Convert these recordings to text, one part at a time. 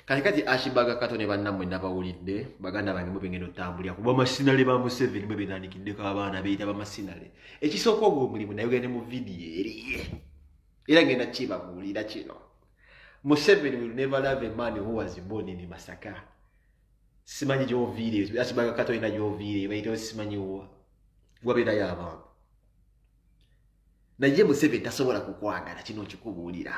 kati kati akibaga kato ne bannamwe nabawulidde baganda bange mwe bengenda otambulira kuba masinale ba museveni mwe benandikiddeko abaana beyita bamasinale ekisooka ogwo omulimu naye ogende mu vidiyo eriye era ngenda kibabuulira kino museveni will never love a man who was born in masaka simanyi gyoviire akibaga kato yina gyoviire bayita simanyi wabeerayo abantu naye museveni tasobola kukwagala kino nkikubuulira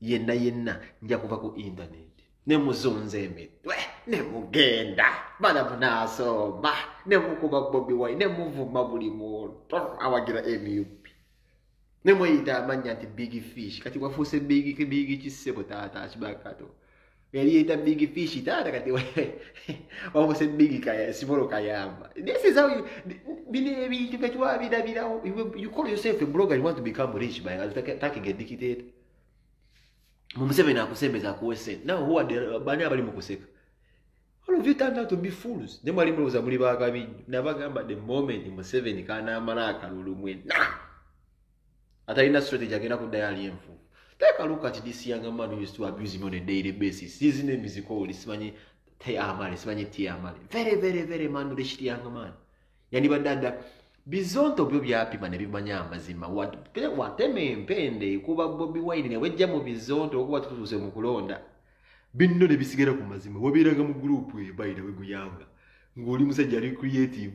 yenna yenna nja kuva ku internet ne muzunza emitwe ne mugenda bana munaasomba ne mukuba bobi wine ne muvuma buli muntu awagira nup ne mweyita amannya nti big fish kati wafuuse big big kisebo taata kibakato yalieta big fish taata kati wabuse big kaya simolo kayamba this is how you bino ebintu kati wabirabirawo You- you call yourself a blogger you want to become rich by attacking a dictator mu museveni akusembeza akuwe sente nawe huwa bani abali mu kuseka all of you turned out to be fools ne mwali mulowooza muli bakabi nnyo nabagamba the moment museveni kanaamala akalulu mwena atalina strategy agenda kuddayo ali enfu take a look at this young man who used to abuse me on a daily basis his name is called simanyi teamale simanyi teamale very very very man rich young man yandibadde adda bizonto byo byapima ne bimanya amazima watema empende kuba bobi wine ne wejja mu bizonto okuba tutuuse mu kulonda binno ne bisigala ku mazima wabeeranga mu guruupu eyo bayira weguyanga ng'oli musajja ali creative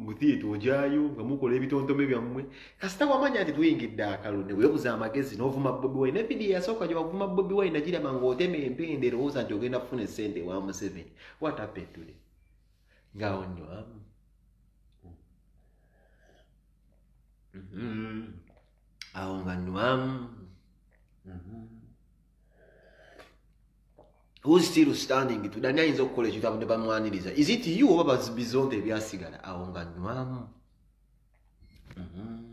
mu theatre ojayo nga mukola ebitontome byammwe kasita wamanya nti tuyingidde akalo ne weebuza amagezi n'ovuma bobi wine nevidiyo yasooka gye wavuma bobi wine nagiraba ng'otema empenda erowooza nti ogenda kufuna essente ewa museveni what happened today ngaawo nnyo amu mm-hmm. awo nga nnwamu mm-hmm. who's still standing to dani ayinza okukola ekitabo ne bamwaniriza is it you oba bazibizonda ebyasigala awo nga nywamu mm-hmm.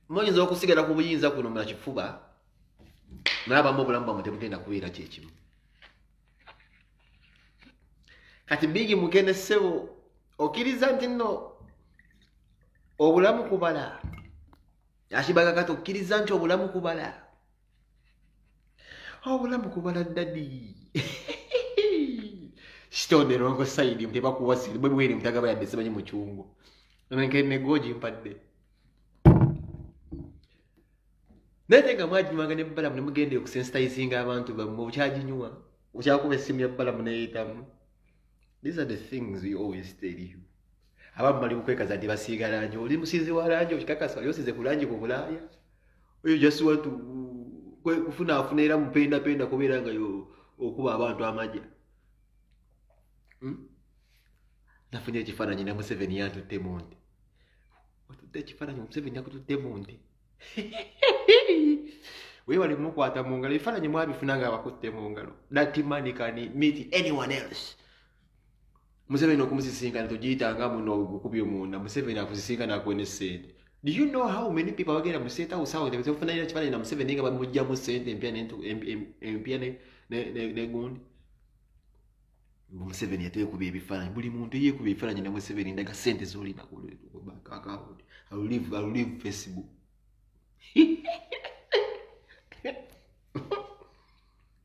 muyinza okusigala ku buyinza kuno mulakifuba naye abamu obulamu bwamwe tebugenda kubeera kyekimu kati bigi mugende ssebo okkiriza nti nno obulamu kubala akibaga kati okkiriza nti obulamu kubala obulamu kubala dadi sitone longo saidi mtebakuwasiri bwebweri mtagaba yadde simanyi mucungu nenkene goji mpadde naye te nga mwaginywanga ne balamu ne mugenda okusensitizinga abantu bammwe okyaginywa okyakuba essimu ya balamu neyitamu these are the things we always tell you abamu bali mukwekaza nti basiiga langi oli musiizi wa langi okikakasa oli osize ku langi ku bulaaya oyo just want to kufunaafuna era mupendapenda kubeera nga okuba abantu amaja hmm? nafunye ekifaananyi ne museveni yantutte munti watudde ekifaananyi omuseveni yakutudde mu nte webale mukwata mu ngalo ebifaananyi mwabifuna nga abakutte mu ngalo that man can meet anyone else museveni okumusisinkana togiyitanga muno gukubye omunda museveni akusisinkana akuwe ne sente do you know how many people abagenda mu state house awo tebafunanira kifaananyi na museveni nga bamugjamu sente empya empya negundi museveni yatekuba ebifaananyi buli muntu eyekuba ebifaananyi ne museveni ndaga sente zolina kulive facebook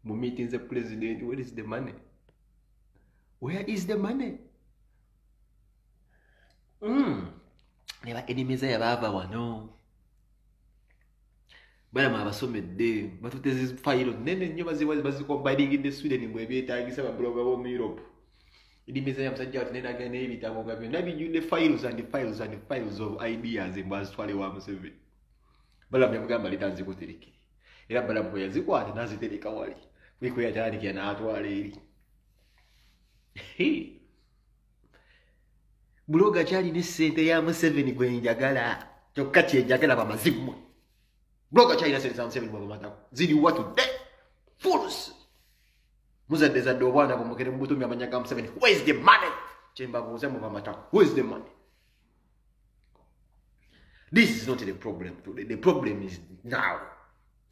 mu meeting the president where is the money where is the money mm. ne ba enemies yabaava wano balama abasomedde batute zifayiro nene nnyo bazikombaringidde sweden mbwe ebyetagisa babuloga b'omu europe edimizanya musajja wati nenaga n'ebitabo nga byonna bijjudde files and files and files of ideas mbwe azitwale wa museveni balamu yamugamba leta nzikuterekere era balamu bwe yazikwata nazitereka wali kuliko yatandikira n'atwala eri buloga kyalina essente ya museveni gwenjagala kyokka kyenjagala bamazimu Bloga china sente za Museveni bwa matako. Zidi what today? Fools. Muzadde zadde obwana bwo mugere mubutumya amanya ga Museveni. Where is the money? Chemba buuza mu bamatako. Where is the money? This is not the problem today. The problem is now.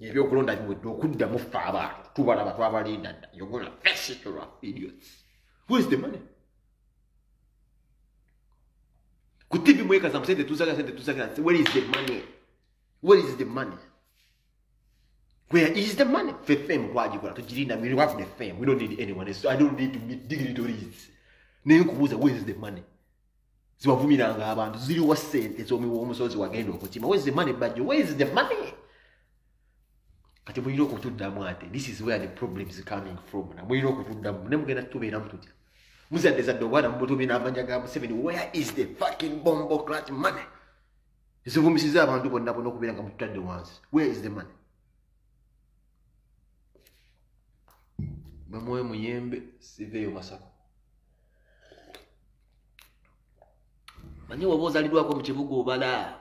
Ebyokulonda biwedde okuddamu ffe abantu tubalaba twabalinda dda. You're gonna face it, idiots. Where is the money? ku tv mwekaza musente tuzaga sente tuzaga where is the money where is the money where is the money fe fame kwagikola tugirinda we have the fame we don't need anyone so i don't need to meet dignitaries naye nkubuuza where is the money ziwavumiranga abantu ziriwa sente zomuwa omusozi wagenda okukima where is the money bajo where is the money kati mulina okutuddamu ate this is where the problems coming from na mulina okutuddamu ne mugenda tutubeeramu tutya muzadde zadde obwana mubutubi n'amanya ga museveni where is the fucking bombo clat money zivumisiza abantu bonna bona okubeera nga mututadde wansi where is the money bamwoyo muyembe siveeyo masako manye waba ozalidwako mu kibuga obala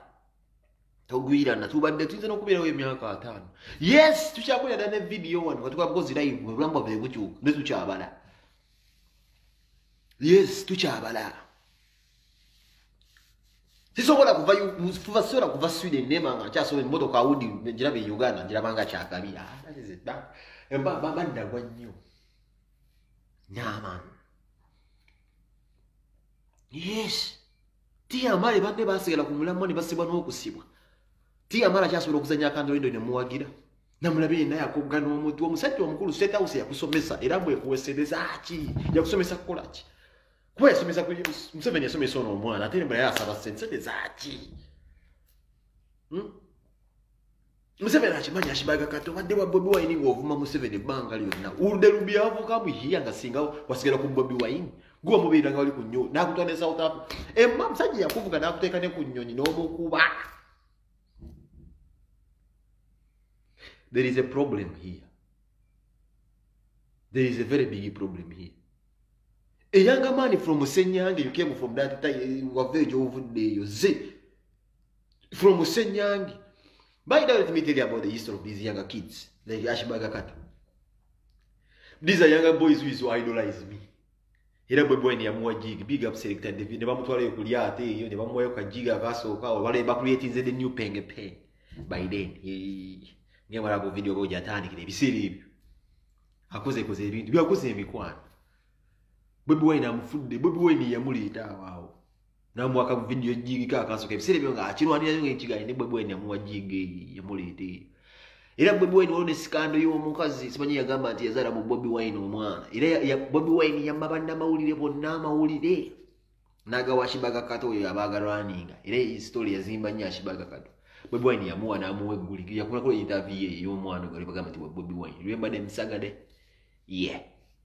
togwirana tubadde tuyinza n'okubeerawo emyaka ataano yes tukyakulira dda ne vidiyo wano katukabukozi live obulamu bwaffe bukyuka ne tukyabala yes tukyabala sisobola kuva kuva sobola kuva sweden nema nga nkyasobola emmotoka awudi ngiraba e uganda ngiraba nga kyakabi ah, baddagwa nnyo nyaman yes tiyamale banne basigala ku mulamwa ne basibwa n'okusibwa tiyamala kyasobola okuzanya akandolindo ne muwagira namulabe yenna yakogga n'omuntu omusajja omukulu state house yakusomesa era mwekuwesereza ki yakusomesa kukola ki kuba yasomesa museveni yasomesa ono omwana ate nembala yasaba sente sente zaki hmm? museveni akimanyi akibaga kati obadde wa bobi wayini ngaovuma museveni ebbanga lyonna ulude lubyavuka muhiya nga singa wasigala ku bobi wayini gwe wamubeera nga wali ku nyonyi nakutwa ne south africa emma musajja yakuvuga nakuteeka ne ku nyonyi n'omukuba there is a problem here there is a very big problem here a younger man from senyange you came from that time wava egyovuddeeyo ze from Senyangi. By the way, let me tell you about the history of these younger kids, like Ashbaga Kata. These are younger boys who is who idolize me. era bwe bwene yamuwa jig big up selector David ne bamutwalayo ku lyate eyo ne bamuwayo ka jig akasooka awo bale bakuleetinze the new penge pen by then nga bala ku video boja atandikira ebiseera ebyo akoze koze ebintu byakoze emikwano bwe bwene amufudde bwe bwene yamuleeta awo awo namwe aka video jigi ka kaso ke bisere byo nga akirwa ni nyo ngiga ni bwe bwe nyamuwa jigi ya mulete era bwe bwe none sikando yo mukazi simanyi ya gamba ati yazara mu bobi wine omwana era ya bobi wine ya mabanda maulire bo na maulire naga washibaga kato yo abaga running era i story ya zimba nya shibaga kato bwe bwe ni yamuwa na muwe guli ya kuna ko interview yo mwana gari baga mati bobi wine remember them sagade yeah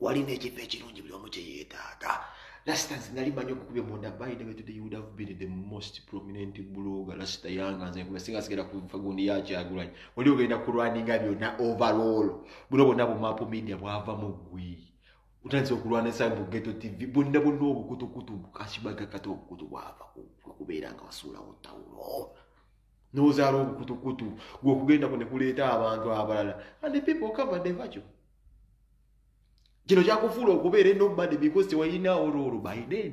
walina ekifo ekirungi buli omu kyeyeetaaga lasita nze nali manyi okukubya munda bayide betude you would have been the most prominent blogger lasita yanga nze nkuba singa sigenda kufa gundi yakyagulanyi oli ogenda kulwaninga byonna overall buno bonna bumapu media bwava mu gwi utandise okulwana esayi mu geto tv bonna bonna obukutukutu kasibaga kati obukutu bwava kubeera nga wasuulawo tawulo nozaala obukutukutu gwokugenda ku nekuleeta abantu abalala and people cover the virtue kino kyakufuula okubeera enobody because tewayinaawo loolo by then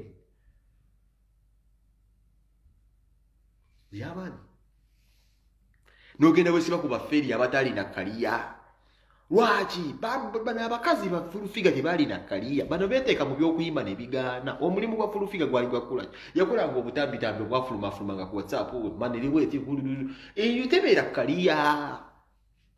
yabaani nogenda wesiba ku bafeeri abataalina kaliya lwaki bano abakazi ba fulufiga tebaalina kaliya bano beteeka mu byokuyimba nebigaana omulimu gwa fulufiga gwali gwakula yakolanga obutambitambi obwafulumafuluma nga ku whatsapp maniriweetebutebeera kaliya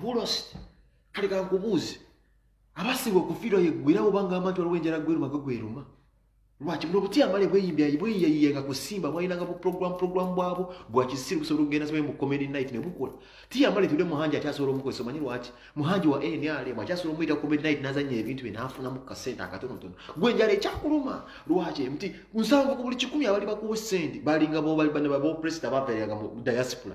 hulost kale kankubuuzi abasibwa okufiirwa yeggwirawo obanga amanti waliwo enjala gweruma gwe gweruma lwaki buno obutya amale bweyimbyaibweyiyayiyenga kusimba bwalinanga buprogram program bwabo bwakisiru busobola okugenda sibali mu comedy night ne bukola tiya amale tude muhanji akyasobola omukozesa omanyi lwaki muhanji wa nrm akyasobola omuyita comedy night nazanya ebintu bye naafunamu ku kasente akatonotono gwe enjala ekyakuluma lwaki nti nsanvu ku buli kikumi abali bakuwa sente balinga bobalibane babopresita bapereranga mu diaspora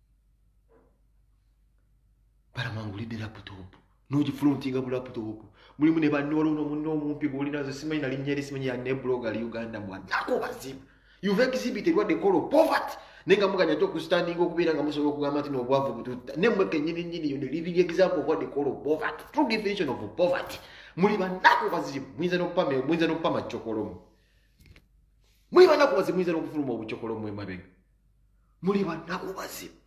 balamangulidde laputopu nogifuluntinga mu laputopu mulimu ne banne waliwo nomunne omumpi gwolinazo simanyi nalinnya eri simanyi yanne blog ali uganda mwanako bazibu youve exhibited what they call poverty naye nga muganya ate okustandinga okubeera nga musobola okugamba nti nobwavu bututta ne mmwe kenyini nyini yo ne living example of what they call poverty true definition of poverty muli banako bazibu muyinza nokupama muyinza nokupama cokolomu muli banako bazibu muyinza nokufuluma obucokolomu emabega muli bannaku bazibu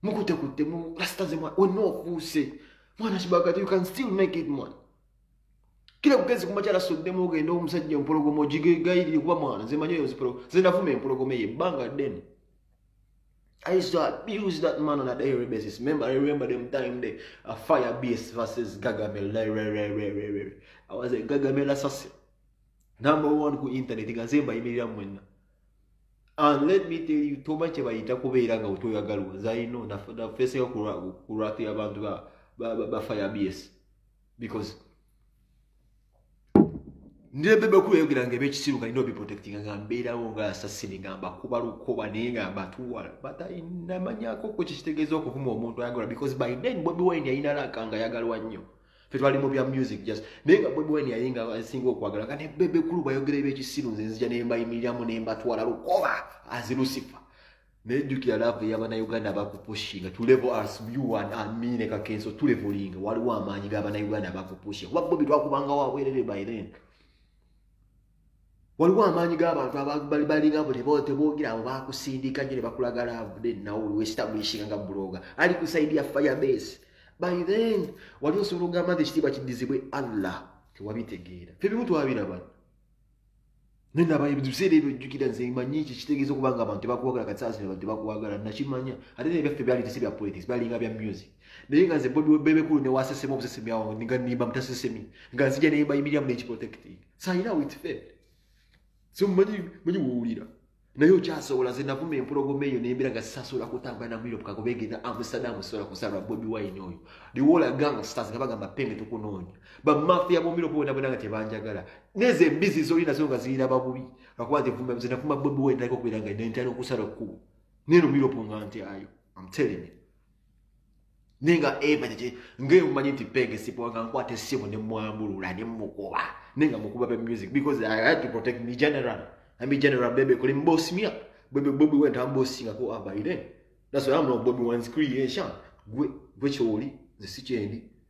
mukutekutte mu rasita ze mwana wenna ofuuse mwana kibagati you can still make it mwana kira kugezi kumakyala soddemu ogenda omusajja empologoma ogigegayirire kuba mwana zemanyi oyo zipologoma zenavuma empologoma eyo ebbanga ddene I used to abuse that man on a daily basis. Remember, I remember them time the uh, fire beast versus Gagamel. I was a Gagamel assassin. Number one ku internet. Gazemba imirira mwenna. and let me tell you toma kyebayita kubeera nga wetoyagalwa zaino nafesinga kulwatu yabantu bafaya bs because ndebebekulu eyogera nga ebekisiru nga nina obiprotectinga nga mbeerawo nga asasini nga mbakuba lukoba naye nga mbatuwala but namanyako ku kikitegeeza okuvuma omuntu ayagala because by then bobi wine yayinalaka nga yagalwa nnyo fe twali mu bya music just naye nga bobi wine yaye nga asinga okwagala nga ne bebe kulu bayogera ebyekisiru nze nzija ne mbayimiriramu ne mbatwala lukoba azi lusifa naye jjukira laavu eyabanauganda abakupushinga tulevo as you and amine kakenso tulevolinga waliwo amaanyi g'abanauganda abakupushinga kuba bobi twakubanga wabwerere by then waliwo amaanyi g'abantu abalinga buli bo tebogera abo bakusindika nyo ne bakulaga laavu nenawuli wesitabulishinga nga buloga ali ku saidi ya firebase by then wali osobola okugamba nti ekitiibwa kiddizibwe allah tewabitegeera fe bimu twabiraba naye naba ebiseera ebyo jjukira nze manyi ekyo kitegeeza okuba nga abantu tebakwagala kasaasi abantu tebakwagala nakimanya ate naye byaffe byali tesi bya politics byalinga bya music naye nga nze bobi webebekulu newasesemu obusesemyawo nga nimba mutasesemi nga nzija nembayimiriramu nekiprotectinga sayina with faith so manyi manyi wowulira naye okyasobola ze navuma empologoma eyo nembera nga sisasobola kutambula na muliro pukago begenda amsterdam sobola kusalwa bobi wine oyo liwola ganga stars nga bagamba penge tukunoonya bamafiya bomiro bonabona nga tebanjagala nezo embizi zoli nazo nga zirina babubi lwakuba nze vuma ze navuma bobi wine naliko okubeera nga nentera okusala kkubo neno muliro po nga nti ayo am telling you naye nga eva kyekye ngaeyo mumanyi nti peg esipuwa nga nkwata essimu ne mwambulula ne mukuba naye nga mukuba be music because i had to protect me general ami general bebe kuli mbosi mia bebe bobi went am bosi nga ko abaire that's why i'm not bobi one's creation gwe gwe choli nze sikyendi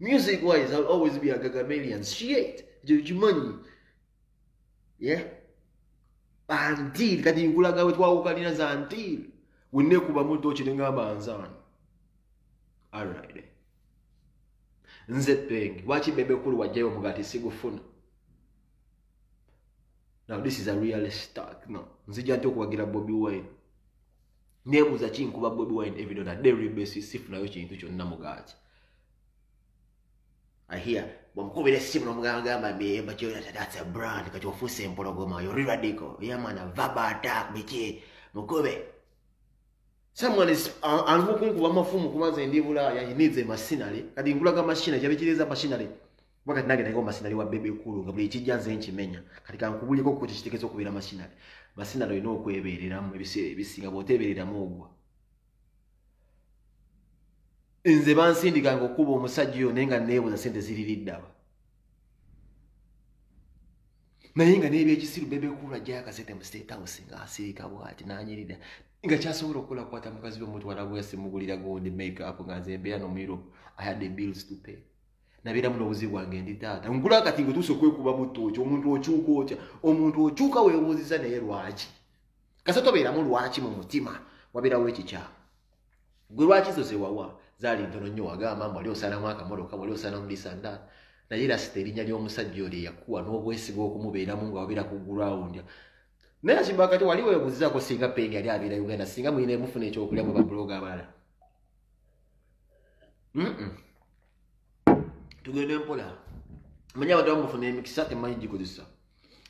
Music wise, I'll always be a Gagamelian. Shit, Jujumanyi. Yeah? Until, kati nkulaga wetwawukanira za until. Wine kuba muto chiringa banzan. Alright. Nze peng, wachi bebe kulu wajayo mugati sigu funa. Now this is a real stock. No, nzija ntoku wagira Bobby Wine. nebuuza kinkuba bobi wine evidona dairy basis sifunayo kintu kyonna mugaaki ahia bwamukubira essimu nomugambagamba mbyebakyothat's a brand kati ofuuse empologoma yori radical yamana vaba attack biki mukube someone is alimu kunkuba amafumu kubanze ndi bulaaya he needs a machinery kati nkulaga machinery kyabikiriza machinery kuba kati nange naye omasinali wa bebe kulu nga buli ekijja nze nkimenya kati kankubuliko kuki kitegeza okubeera masinali masinali olina okwebeereramu ebiseera ebisinga bwoteebereramu ogwa nze bansindikanga okukuba omusajja oyo naye nga neebuza sente ziririddaba naye nga nebyekisiru bebe kulu ajjayo akasente mu state house nga asiika bwati nanyirira nga kyasobola okukola kukwata mukazi we mutwala gweyasimugulira gundi make up nga nze mbeera nomu europe i had the bills to pay nabeera muno obuzibu bwange ndi taata nkula kati ngetuusa okwekuba butto ki omuntu okyuka otya omuntu okyuka webuuziza naye lwaki kasa tobeeramu lwaki mu mutima wabeerawo ekikyamu gwe lwaki zo zewawa zaali ntono nnyo wagamba mu wali osalamu akamotoka wali osalamu lisanda naye rasita erinnya ly'omusajja oli eyakuwa n'obwesiga okumubeeramu nga wabeera ku gulawundi naye akimba kati wali webuuzizaako singa peeni yali abeera uganda singa mulina emufuna ekyokulya mu babuloga abalala tugende mpola manya abantu bamufuna emikisa temanyi gikozesa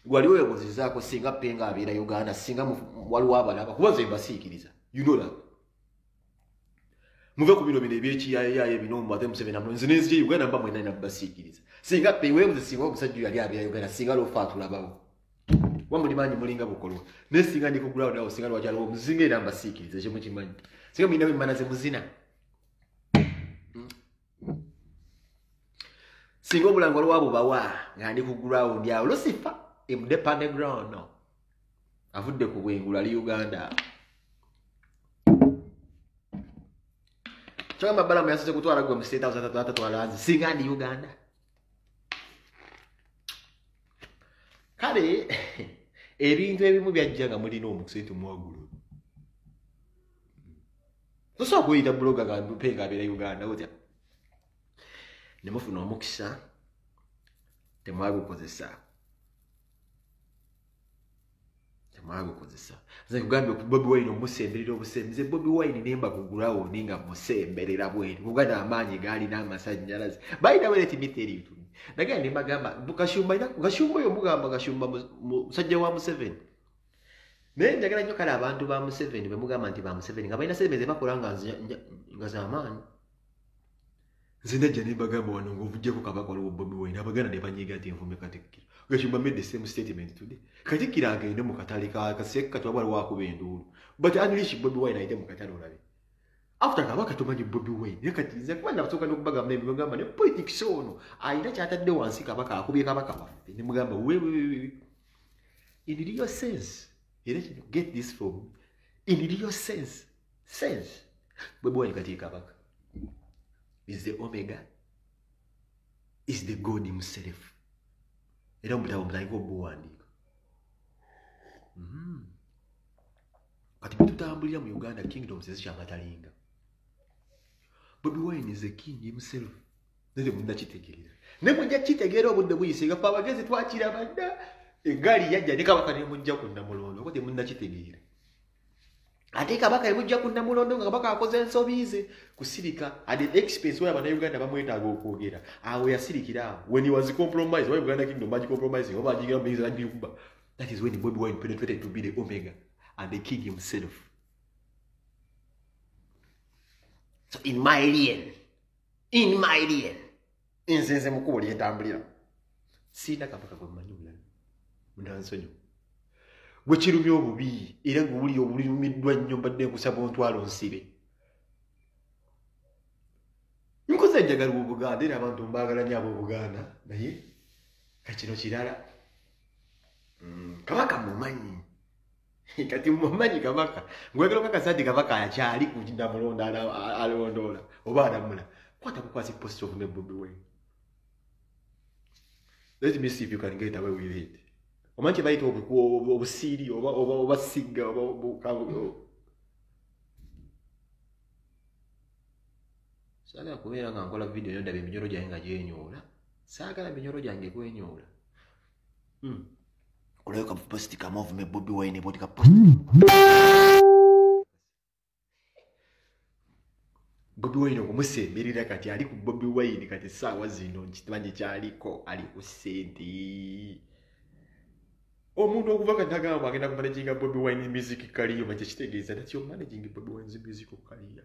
gwali webuzizaako singa penga abeera uganda singa waliwo abalaba kuba ze mbasiikiriza you know that muve ku bino bino ebyekiyayaye bino mubaze museveni amu nze nenzija uganda mba mwena nina basiikiriza singa pewebuze singa omusajja yali abeera uganda singa lofa atulabawo wa muli maanyi mulinga bukolwa naye singa ndikugulawo nawo singa lwakyaliwo muzinga era mbasiikiriza ekyo mukimanyi singa mulinawo emmana ze muzina singa obulango waliwo abo bawa nga ndi ku ground awo lusifa emude pande ground no avudde ku bwengulu ali uganda kyogamba balamu yasose kutwala gwe mu state house atatwala nze singa ndi uganda kale ebintu ebimu byajja nga mulina omukusentu mwagulu tosobola kuyita buloga nga mpe nga abeera uganda otya ne mufuna omukisa temwagukozesa temwagukozesa nze kugambye ku bobi wine omusemberera obusembe nze bobi wine nemba ku gurawundi nga musemberera bweri kuga n'amaanyi gaalina amasannyalaze balina weleti miteritu nagenda ne mbagamba kashumba kashumba oyo mugamba kashumba musajja wa museveni naye njagala nnyo kale abantu ba museveni bemugamba nti ba museveni nga balina sente zebakola nga zamaani nze najja nembagamba wano ngaovujjako kabaka waliwo bobi wine abaganda nebanyiga nti nvume katikkiro gashimba made the same statement today katikkiro agende mu katale kaseka kati waba waliwo akuba enduulu but unleash bobi wine ayite mu katale olabe after kabaka tumanyi bobi wine naye kati nze kuba nakusooka nokubagamba nebagamba ne politics ono alina kyatadde wansi kabaka akubye kabaka waffe nemugamba wewewewe in real sense era kino get this from in real sense sense bwe bwali kati ekabaka is the omega is the god himself era omutabo mutandika obuwandiika mm-hmm. kati bwetutambulira mu uganda kingdoms ezikyamatalinga bobi wine is the king himself nere munakitegeera ne mujja kitegeera obudde buyise nga fe abagezi twakiraba dda egaali yajja ne kabaka ne mujja ku namulondo oba temunakitegeera ate kabaka ebujja ku namulondo nga kabaka akoze ensobi ze kusirika at an expense where abanauganda bamwetaaga okwogera awo yasirikira awo when he was compromised why uganda kingdom baji compromising oba ajigira muyinza nagikuba that is when bobi wine penetrated to be the omega and the king himself so in my alien in my lien nze nze mukubo lyentambulira siina kabaka gwe mmanyi omulala munansonyo gwe kirumya obubi era gwe wulira obulirumiddwa nnyo mbadde nkusaba ontwalo nsibe nkoze enjagala obuganda era abantu mbaagala nyo abobuganda naye kakino kirala mm, kabaka mumanyi kati mumanyi kabaka ngwegera okakasa nti kabaka akyali ku namulonda alondoola oba alamula kwata kukwasa epost of nebobi we let me see if you can get away with it omanyi kyebayita obusiiri oba sigga saagala kubeera nga nkola vidiyo nyo ndaba eminyolo gyange nga gyenyoola saagala minyolo gyange kwenyoola mm. olaba ka post ka move me bobi wine bodi ka post bobi wine okumusemberera kati ali ku bobi wine kati saawa zino nkitmanje kyaliko ali ku sente omuntu okuva kati agamba agenda kumanaginga bobi wine music kaliyo makye kitegeeza nati omanaging bobi wine music kaliya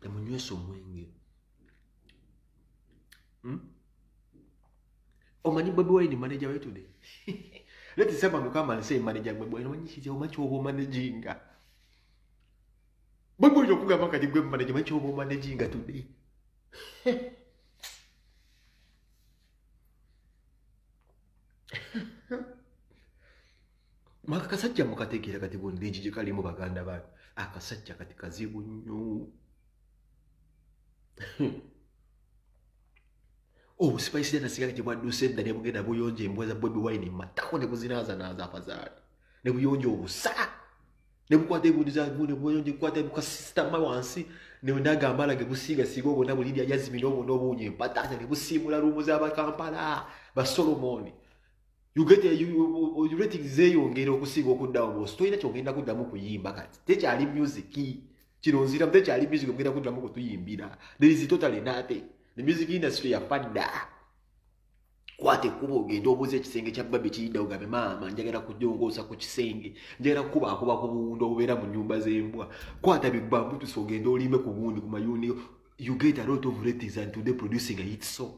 temunywesa hmm? hmm? omwenge hmm? omanyi bobi wine manaja wetude leti sema mukamalise manaja gwe bwene omanyi kiti omanyi kyoba omanajinga bobi wine okugamba kati gwe manaja omanyi kyoba omanajinga today maka kasajja mukategeera kati bondingi gye kalimu baganda bange akasajja kati kazibu nnyo obusipaisi oh, nasigala gye bwadduse edda ne bugenda buyonja embwa za bobi wine mu matako ne buzinaaza naaza apazaali ne buyonja obusa nebukwata egundi zagune buyonje kwata buka sister ma wansi ne ndaga amala ge busiga sigo bona buli ya yazimi no bona obunye patanya ne busimula rumu za bakampala ba solomon you get a, you, you, you rating ze yongera okusiga okudda obo story nacho ngenda kudda mu kuyimba kati te kyali music kino nzira mbe kyali music ngenda kudda mu kutuyimbira there is totally nothing the music industry ya fadda kwata ekkuba ogende obuuza ekisenge kya babi kiyidda ogambe maama njagala kujongoosa ku kisenge njagala kukubaakuba ku buwundo obubeera mu nyumba z'embwa kwata bigbambutusa ogende olimbe ku buwundi ku mayuuni you get a lot of ratings and today producing a hit song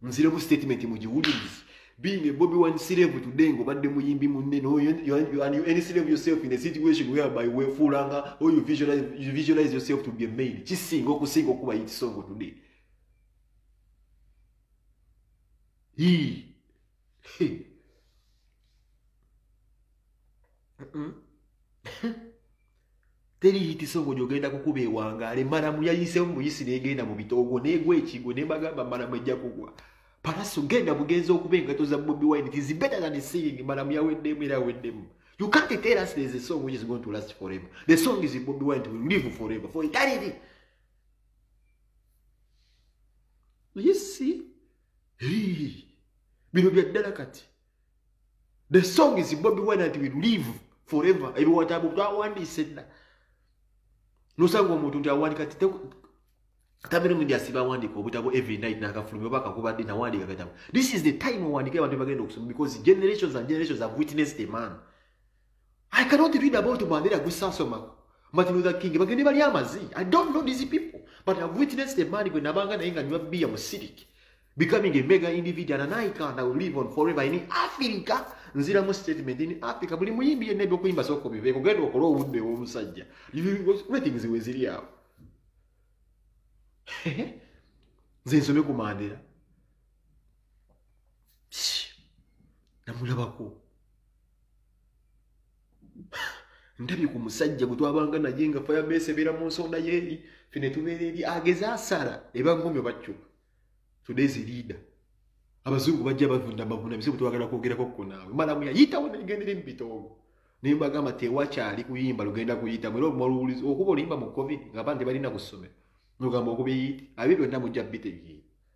nziremu statement mugiwulirizi being a bobi one slave today ngo badde muyimbi munne no you, you, you, and you any slave yourself in a situation whereby we fulanga or you visualize, you visualize yourself to be a maid kisinga okusinga okuba hit song today teriyitisa omuli ogenda kukuba ewangaale maramu yayiseemu muyisi negenda mu bitoogo negwa ekigo nebagamba maramu ejja kugwa palaso genda bugenza okuba engato za bobi wine it is better than seeing maramu yaweddemu era aweddemu You can't tell us there's a song which is going to last forever. The song is Bobby Wine to live forever, for eternity. naye si bino byaddala kati the song is bobi wine and will live forever ebiwatabu twawandiise dda nosanga omuntu nti awandika ti tamirimu ndi asiba awandiika obutabo every night nakafulumi oba akakuba ddi nawandiika katabo this is the time owandika abantu bagenda okusoma because generations and generations have witnessed a man I cannot read about Mandela Gusasoma, Martin Luther King, but anybody amazi. I don't know these people, but I've witnessed a man when Nabanga na inga nywa beer musirik, becoming a mega individual and I can't I will live on forever in Africa. Nzira mu statement in Africa buli muyimbi yenna ebyokuyimba soko biveeko genda okola obudde w'omusajja ratings we ziri awo nze nsome ku Mandela namulabako ndabye ku musajja gwe twabanga naye nga fayabesi ebeera mu nsonda yeeri fe ne tubeera eri ageze asala ebagumyo bacuka todays leada abazungu bajja bavunda amaguna bizibu twagala kwogerako ko naawe malamu yayitawo negendere mu bitoogo naye mbagamba tewakyali kuyimba lugenda kuyitamu era omuwulizi okuba oluyimba mu covid nga abantu tebalina ku ssomero nogamba okuba eyiiti abye byonna mujja bitegeera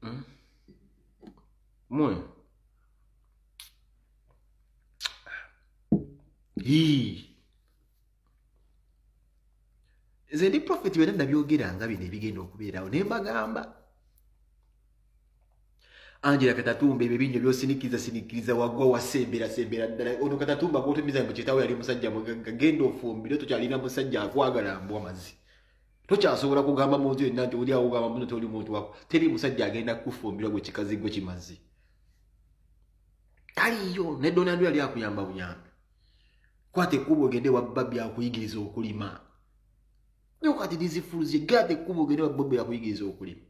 Hmm? Mwe. Hii. Nze ndi prophet byonna nabyogera nga bino ebigenda okubeerawo naye mbagamba angela katatumba ebyo binyo byosinikiriza sinikiriza wagwa wasembera sembera ddala ono katatumba gwotumiza mbu kitaawo yali musajja mugagga genda ofumbire tokyalina musajja akwagala mbwa mazi tokyasobola kugamba muntu yenna nti oli awogamba muno toli muntu wako teri musajja agenda kukufumbira gwe kikazi gwe kimazi taliyo ne donald yali akuyamba buyambi kwata ekkuba ogende wabba byakuyigiriza okulima nokati dizifuluzi gata ekkuba ogende wabba byakuyigiriza okulima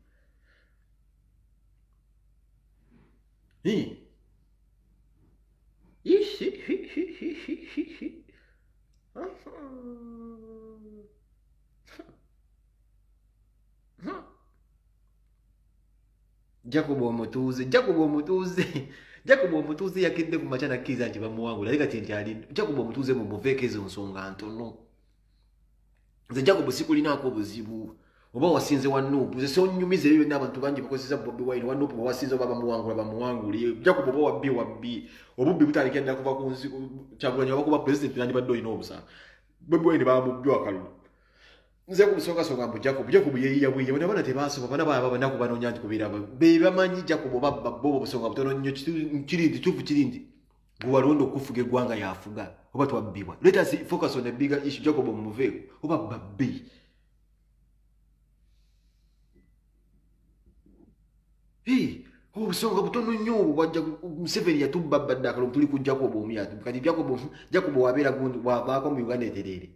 jacob omutuuze jacob omutuuze jacob omutuuze yakedde ku makya nakkiriza nti bamuwangula naye kati nti ali jacob omutuuze mumuveeko ezo nsonga ntono nze jacob sikulinaako obuzibu oba wasinze wa nuupu nze sonyumiza ebyo byonna abantu bangi bakozesa bobi wine wa nuupu wasinze oba bamuwangula bamuwangule jacob oba wabbi wabbi obubbi butandikira ddala kuva ku nsi kyagulanyi oba kuba pulezidenti nandibadde olina obusanga bobi wine bamubjwa akalulu nze kumusongasonga mbu jacob jacob yeyiyabwiye bona bona tebasoba bona baba banaku banonya nti kubiraba bebamanyi jacob babba bo obusonga butono nnyo kiri nti kituufu kiri nti gwewalonda okufuga eggwanga yafuga oba twabbibwa let us focus on the bigger issue jacob omuveeko oba babbi obusonga butono nnyo obwo bwajja museveni yatubba badde akalongo tuli ku jacob omu yatubba kati jacob jacob wabeera gundi wavaako mu uganda etereere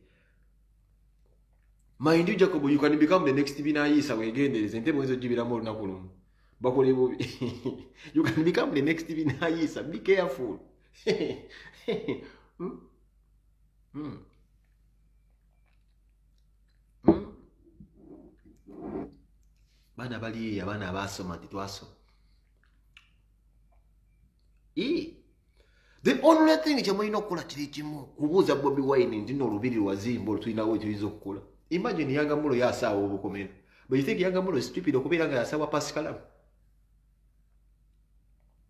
mind you jacob you can become the next binayiisa wegendereze ntebe oyinza ogibiramu olunaku lumu bakole bubi you can become the next binayiisa be careful hmm? Hmm. hmm? baana bali abaana abaasoma nti twasoma the only thing kyemulina okukola kiri kimu kubuuza bobi wine nti no olubiri lwazimba olutulinawo ekiyinza okukola imagine yangamulo yasaawa obukomera but you think yangamulo stupid okubeera nga yasaawa pasikalamu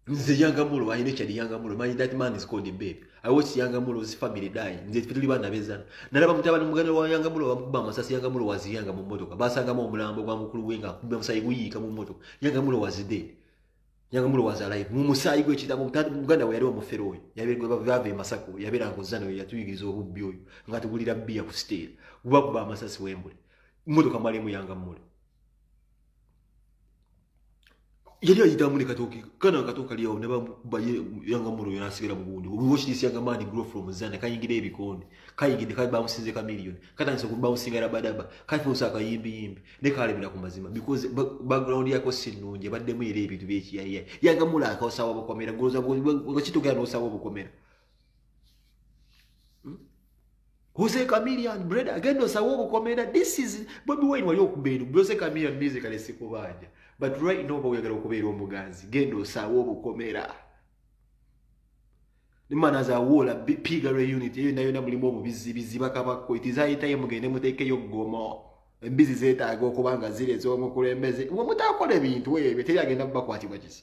nze yangamulo i nature the yangamulo manyi that man is called a babe i watch yangamulo his family die nze tuli bana bezana nalaba mutabani muganda wa yangamulo bamukuba amasasi yangamulo waziyanga mu mmotoka basangamu omulambo gwa mukulu wenga kumbe musayi guyiika mu mmotoka yangamulo was dead yangamulo was alive mu musayi gwe kitabo muganda we yali omufere oyo yabere gwe bava emasako yabera ngozana oyo yatuyigiriza obubbi oyo nga tugulira bbiya ku siteera gubakuba amasasi wembule mmotoka mwalimu yangamulo yali ayitamu ne katooki kana katooka lyawo ne babaye yanga mulo yona asigala mu bundi we watch this younger man grow from zana kayingira ebikonde kayingira kali bamusinze ka million katandise ku bouncing rabadaba kali fusa kayimbi yimbi ne kale bila ku mazima because background yako si nunje badde mu ile ebintu bye kiyaye yanga mulo akaosawa bukomera goza bwo kitogera no sawa bukomera Jose Chameleon brother agenda osawo obukomera this is Bobby Wine wali okubeera Jose Chameleon music ale sikubanja but right now boyagala okubeera omuganzi genda osawo obukomera Nimana za wola piga re unit eyo nayo na mulimu obubizi biziba kabako it is high time mugende muteke yo gomo embizi zeta ago kubanga zile zo mukulembeze wo mutakole bintu wewe teri agenda bakwati bwakizi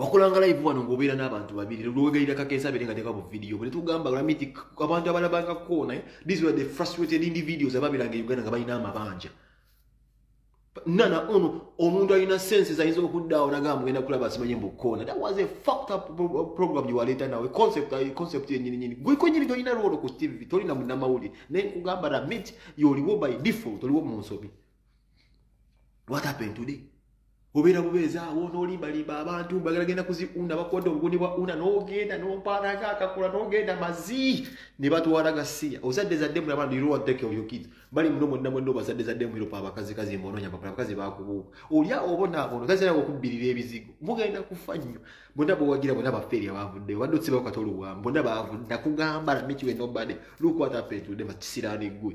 wakulanga live wano ngobeera n'abantu babiri lwewegayira kakensa abere nga teka bu video bwe netugamba olami nti abantu abalabanga koona eh, these were the frustrated individuals ababeranga e uganda nga balina amabanja nana ono omuntu alina senses ayinza okuddaawo nagamba mugenda kulaba asimanye mbu koona that was a fucked up program gyewaleeta nawe concept eh, concept yenyininyini gwekwenyini tolina lwolo ku tv tolina munamawulire naye nkugamba ramit yoliwo by default oliwo mu nsobi what happened today obeera bubeeza awo nolimbalimba abantu bagala genda kuziunda bakwata obuguni bwa una nogenda nompaanaga akakula nogenda mazi ne batwala gasiya ozadde zadde mulaba do you know what take of your kids bali muno mwonna mwonna obazadde zadde mumiropa abakazi kazi mbononya bakula abakazi bakubuuka olya obonaabono taziraga okubbirira ebizigo mugenda kufa nnyo bonna bowagira bonna bafeeri abavudde obadde otsibawo katolo bwamu bonna bavudde nakugamba lamikiwe nobody lukwata petude makisiraani ggwe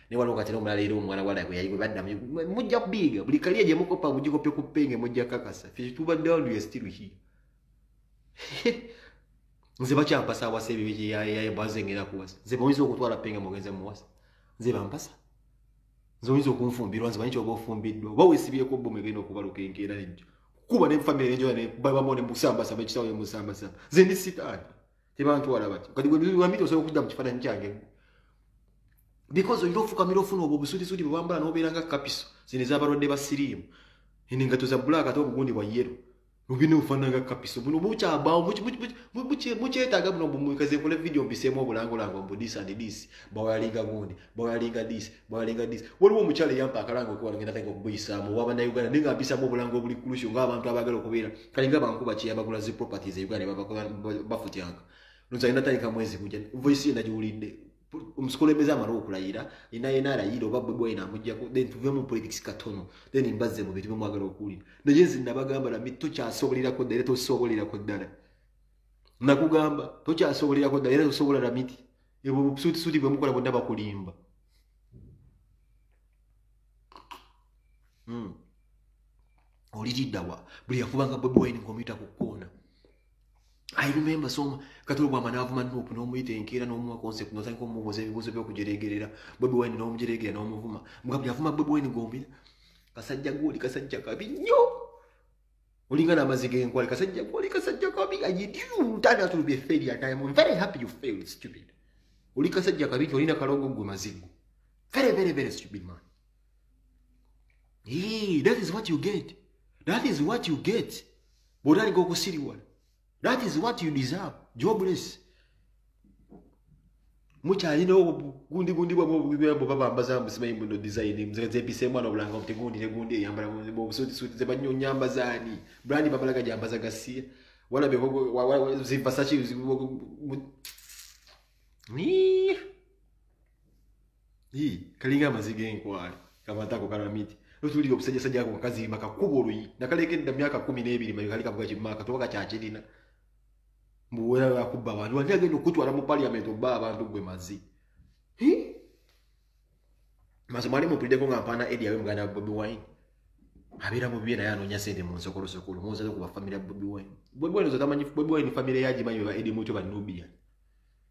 ne waliwo kati nomulala era omwana wala gwe yaliwe badda mujja kubiiga buli kaliya gye mukopa mugikope ku penge mujja kakasa fe tubadde wandu yestiru hi nze bakyampasa awasa ebibiki yabaze ngera kuwasa nze boyinza okutwala penge mugenze muwasa nze bampasa nze oyinza okunfumbirwa nze manyi kyoba ofumbiddwa oba wesibyeko bomu egenda okubaluka enkeera ejjo kuba ne famire enjoya ne babamu ne musambasa bekisawo ne musambasa nze ndi sitaani tebantwala bati kati wambi tosobola okudda mu kifaananyi kyange because olina ofukamira ofuna obwo obusulisuti bwe bwambala n'obeera nga kapiso zino ez'abalwadde ba siriimu eno engato za bulaaka ate obugundi bwa yero lubina obufaanana nga kapiso buno bukyabaawo mukyetaaga buno bumwekaze nkole vidiyo mbiseemu obulangolango mbu dis and dis bawayalinga gundi bawayalinga dis balinga dis waliwo omukyala eyampa akalango okuwala ngenda kaika okubuyisaamu owa bannayuganda naye nga mpisaamu obulango obuli kulusyo ngaabantu abaagala okubeera kale nga bankuba kyeyabagula zi properties e uganda bafutyanka nozali natandika mwezi gujja voice ye nagiwulidde omusikulembeze amala okulayira ina yena alayira oba bwe bwayina amujjako then tuve mu politics katono then mbazze mu bintu bemwagala okuwulira naye nzi nabagamba nami tokyasobolerako ddala era tosobolerako ddala nakugamba tokyasobolerako ddala era tosobola namiti ebwo busuutisuuti bwe mukola bwonna bakulimba hmm. oliriddawa buli yakubanga bobi wine ngomuyita ku koona i remember so kati olwobwama naavuma nup n'omuyita enkeera n'omuwa concept notandika omubuuza ebibuuzo byokujeregerera bobi wine n'omujeregerera n'omuvuma mugabuli avuma bobi wine gombira kasajja goli kasajja kabi nnyo olinga namazi genkwale kasajja kwali kasajja kabi ajidiutana tulubye feli atayam im very happy you failed stupid oli kasajja kabi nti olina kalongo gwe mazigu very very very stupid man Hey, that is what you get that is what you get bwotandika okusiriwala that is what you deserve jobless mukyalina obugundi gundi bwa bwebwo babambaza musimanyi muno design mzepise mwana obulanga obuti gundi ne gundi eyambala mu busuti suti ze banyo nyamba zani brand babalaga jambaza gasiya wala be zivasachi ni Hii, kalinga amaziga enkwale kamatako karamiti lutulira obusajjasajja ako kakaziimba kakuba oluyi nakalekedda myaka kumi n'ebiri mayo kali kavuga kimaaka toba kakyakirina mbuwera yakubba abantu ani agenda okutwala mu parliament obba abantu gwe mazi mazi mwali mupulideko nga mpaana edi awe muganda bobi wine abeera mu bibye naye anoonya sente mu nsokolosokolo muwozaze ku bafamire ya bobi wine bobi wine ozotamanyi bobi wine famire yagimanyi beba edi mutyo banubia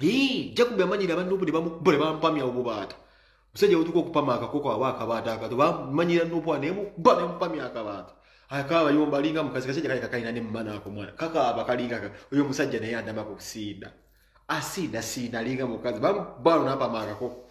Hii, Jacob yamanyira abantu obu bamukubule bampamya obubaata. Musajja utuko kupama akakoko aba akabaata akato bamanyira nopo anemu bane mpamya akabaata. Akaaba yomba linga mukazi kasajja kali kakaina ne mmana ako mwana. Kaka abakalinga kaka. Uyo musajja naye andama kusinda. Asina sina linga mukazi bam balo napa akakoko.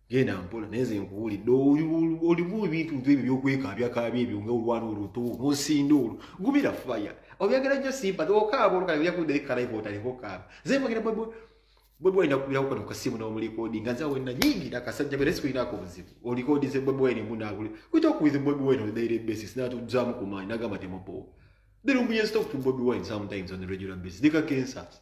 genda mpola naye nze nkuwulidde olimu ebintu ntu ebyo byokwekaabyakaabya ebyo nga olwana oluto nosinda olwo gumira faya obyagala nnyo simba okaaba olukale oja kudde ekalayiva otaleka okaaba nze mbagera bwebwe bwebwe olina kubirawo kano kasimu n'omulikodi nga nze awena nyingi nakasajja bera sikulinako buzibu olikodi ze bwebwe wene munaabuli we talk with bwebwe wene on daily basis natuzaamu ku maanyi nagamba temupowa They don't be in stock to Bobby Wine sometimes on the regular basis. They got cancers.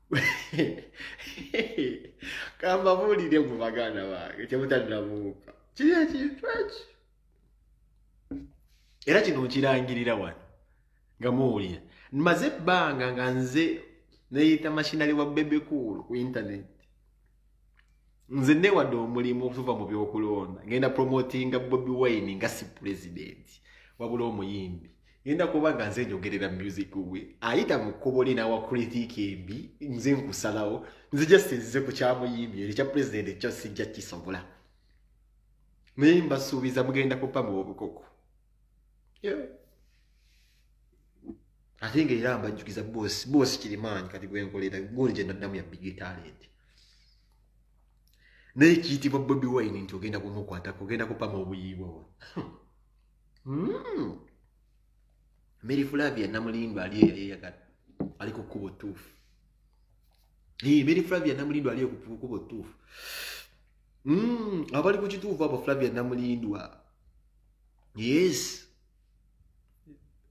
kambabuulire mu baganda bange kyemutaddamuuka kiri ekintu eki era kino nkirangirira wano nga muwulira nmaze ebbanga nga nze neyita mashinari wa bebekuulu ku intaneti nze newadde omulimu okuva mu byokulonda ngenda promotinga bobi wine nga si pulezidenti wabula omuyimbi ngenda kuba nga nze njogerera music we ayita mu kkubo li nawa kritiiki embi nze nkusalawo nze just nzize ku kyamuyimbi eri kya pulezidenti ekyo sijja kisobola naye mbasuubiza mugenda kupa mu obukoko ate nga era mbajjukiza boosi boosi kirimaanyi kati gwenkolera goli gyenaddamu ya big talent naye kiyitibwa bobi wine nti ogenda kumukwatako ogenda kupama obuyiibwa wa hmm. mary flavia namulindo ali eyeyagala ali ku kkubo ttuufu mary flavia namulindo ali ku kkubo ttuufu hmm. abali ku kituufu abo flavia namulindwa yes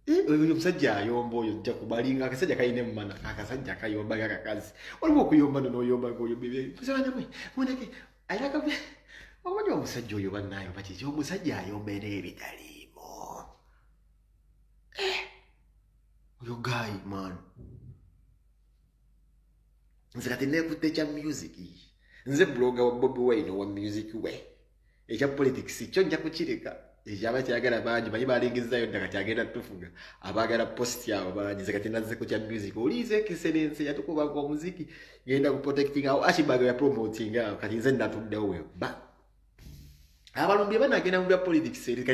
eh, oyo omusajja ayomba oyo jja kubalinga akasajja kalina emumana akasajja kayomba kakakazi waliwo okuyomba nonoyomba oyombebyeanamwe muneke ayaka omanyi omusajja oyo banayo bakiki omusajja ayomba era ebitaliimu eh, oyo gayi man nze kati nekutte kya music nze buloga wa bobi wine owa music we ekya politics kyo nja kukireka ekyaba kyagala bangi bayi balingizzayo dda kati agenda tufuga abaagala post abo bangi nze kati nazze ku kya music oliiza ekiserense yatukubanga omuziki ngenda ku protecting awo ashibag ya promoting awo kati nze natuddewo weba abalumbi banagenda mu bya politics